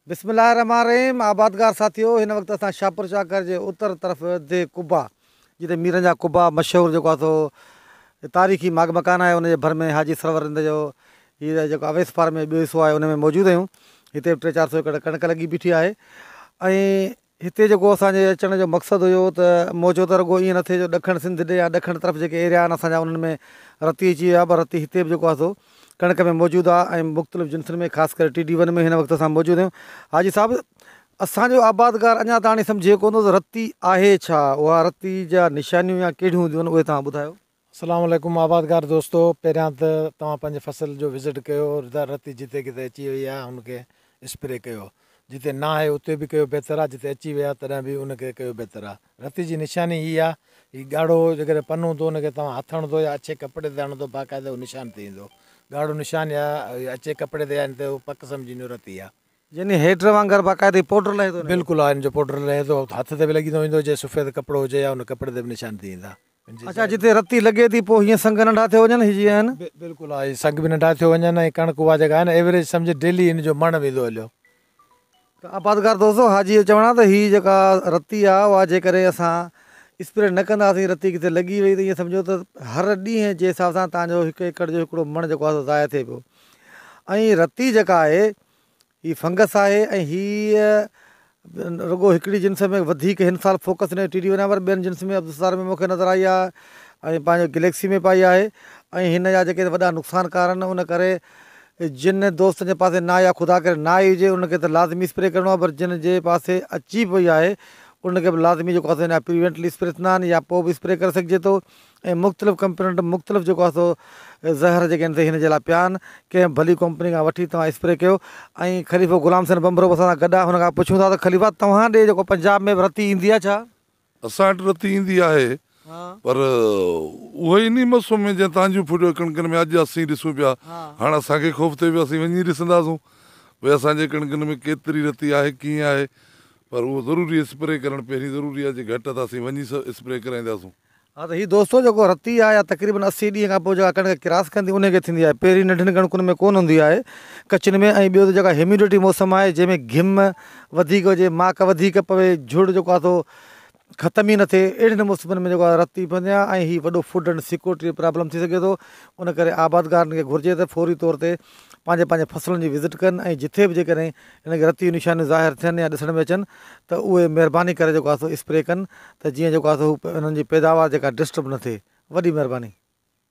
بسم الله الرحمٰن الرحيم آبادگار ساٿيو هن وقت اسان شاهپور چاڪر جي اتر طرف ديھ قبا جتي ميرن جا قبا مشهور جيڪو آهي سو تاريخي ماڳ مڪان آهي ان جي ڀر ۾ حاجي سرور رند جو هي جيڪو اويس فارم جو ٻيو حصو آهي ان ۾ موجود آهيون هتي به ٽي چار سو ايڪڙ ڪڻڪ لڳي بيٺي آهي ۽ هتي جيڪو اسان جي اچڻ جو مقصد هيو ته موچو ته رڳو ائين نه ٿئي جو ڏکڻ سنڌ ڏي يا ڏکڻ طرف جيڪي ايريا آهن اسان جا انهن ۾ رتي اچي ويو آهي پر رتي هتي به جيڪو آهي سو ڪڻڪ ۾ موجود آهي ۽ مختلف جنسن ۾ خاص ڪري ٽي ڊي ون ۾ هن وقت اسان موجود آهيون حاجي صاحب اسان جو آبادگار اڃا تاڻي سمجهي ڪونه ٿو ته رتي آهي ڇا؟ اها رتي جا نشانيون يا ڪهڙيون هونديون آهن اهي توهان ٻڌايو. اسلام عليڪم آبادگار دوستو پهريان ته توهان پنهنجي فصل جو وزٽ ڪيو ردار رتي جتي ڪٿي اچي وئي آهي ان کي اسپري ڪيو جتي نه آهي اتي به ڪيو بهتر آهي جتي اچي وئي آهي تڏهن به ان کي ڪيو بهتر آهي رتي جي نشاني هي آهي هي ڳاڙهو جيڪڏهن پن هوندو ان کي توهان هٿ هڻندو يا اڇي ڪپڙي تي هڻندو باقاعده هو نشان ٿي ويندو ڳاڙهو نشان يا اڇي ڪپڙي تي آهن ته هو پڪ سمجهندو رتي آهي يعني هيڊر وانگر باقاعده پوڊر لهي ٿو بلڪل آهن جو پوڊر لهي ٿو هٿ تي به لڳي ٿو ويندو جي سفيد ڪپڙو هجي يا ان ڪپڙي تي به نشان ٿي ويندا. اچا جتي رتي لڳي ٿي پوء هيئن سنگ ننڍا ٿيو وڃن هي جي آهن. بلڪل ها هي سنگ به ننڍا ٿيو وڃن ۽ ڪڻڪ اها جيڪا آهي نه ايوريج سمجهه ڊيلي ان جو مڻ ويندو هليو. ته آبادگار دوستو حاجي جو چوڻ آهي ته هي جيڪا رتي آهي اها جيڪڏهن اسان اسپريڊ نه ڪنداسين رتي ڪٿي لڳي وئي ته ايئن سمجهو ته هر ڏينهن جي حساب سان تنهنجو هڪ ايڪڙ جو هڪڙو مڻ جيڪو آهي سو ضايع ٿئي پيو ۽ رتي جيڪا آهي هي فنگس آهي ۽ هي رڳو هڪڙي جنس ۾ وڌيڪ هن سال فوڪس نئين ٽي ڊي ونان پر ٻين جنس ۾ عبدالستار ۾ مونکي نظر آئي آهي ۽ پنهنجو گليڪسي ۾ به آئي آهي ۽ هن جا جيڪي وڏا نقصان ڪار آهن ان ڪري جن دوستن جي پاسي ناهي يا خدا ڪري نه آئي هجي ان کي ته لازمي اسپري ڪرڻو آهي پر جن جي پاسي اچي به وئي آهي ان کي به لازمي جيڪو آهي سو ان جا پريوينٽلي اسپري ٿيندا آهن يا پوء به اسپري ڪري سگهجي ٿو ۽ مختلف ڪمپنين وٽ مختلف جيڪو آهي سو زهر جيڪي آهن سي هن جي لاء پيا آهن ڪنهن به ڀلي ڪمپني کان وٺي توهان اسپري ڪيو ۽ خليفو غلام حسين ٻنڀرو به اسان سان گڏ آهي هن کان پڇون ٿا ته خليفا توهان ڏي جيڪو پنجاب ۾ به رتي ايندي آهي ڇا؟ اسان وٽ رتي ايندي آهي پر اهو ئي ني مسئو ۾ جئين تهان جون ڦڙيون ڪڻڪن ۾ اڄ اسين ڏسون پيا هاڻ اسان کي خوف ٿئي پيو اسين وڃي ڏسنداسون ڀئي اسان جي ڪڻڪن ۾ ڪيتري رتي آهي ڪيئن آهي پر اهو ضروري اسپري ڪرڻ پهرين ضروري آهي جي گهٽ آهي ته اسين وڃي اسپري ڪرائينداسون. ها ته هي دوستو جيڪو رتي آهي يا تقريبن اسي ڏينهن کان پوء جيڪا ڪڻڪ ڪراس ڪندي انهي کي ٿيندي آهي پهرين ننڍين ڪڻڪن ۾ ڪونه هوندي آهي ڪچين ۾ ۽ ٻيو ته جيڪا هيميڊٽي موسم آهي جنهن ۾ گهم وڌيڪ هجي ماڪ وڌيڪ پوي جهڙ جيڪو آهي سو ختم ئي نه ٿئي اهڙين موسمن ۾ جيڪو آهي رتي پوندي آهي ۽ هي وڏو فوڊ ۽ سيڪورٽي پرابلم ٿي سگهي ٿو ان ڪري آبادگارن کي گهرجي ته فوري طور تي پنهنجي پنهنجي فصلن جي وزٽ ڪن ۽ جتي به جيڪڏهن انهن کي رتيون نشانيون ظاهر ٿين يا ڏسڻ ۾ اچن ته اهي مهرباني ڪري جيڪو آهي سو اسپري ڪن ته جيئن جيڪو آهي سو انهن جي پيداوار جيڪا ڊسٽرب نه ٿئي وڏي مهرباني.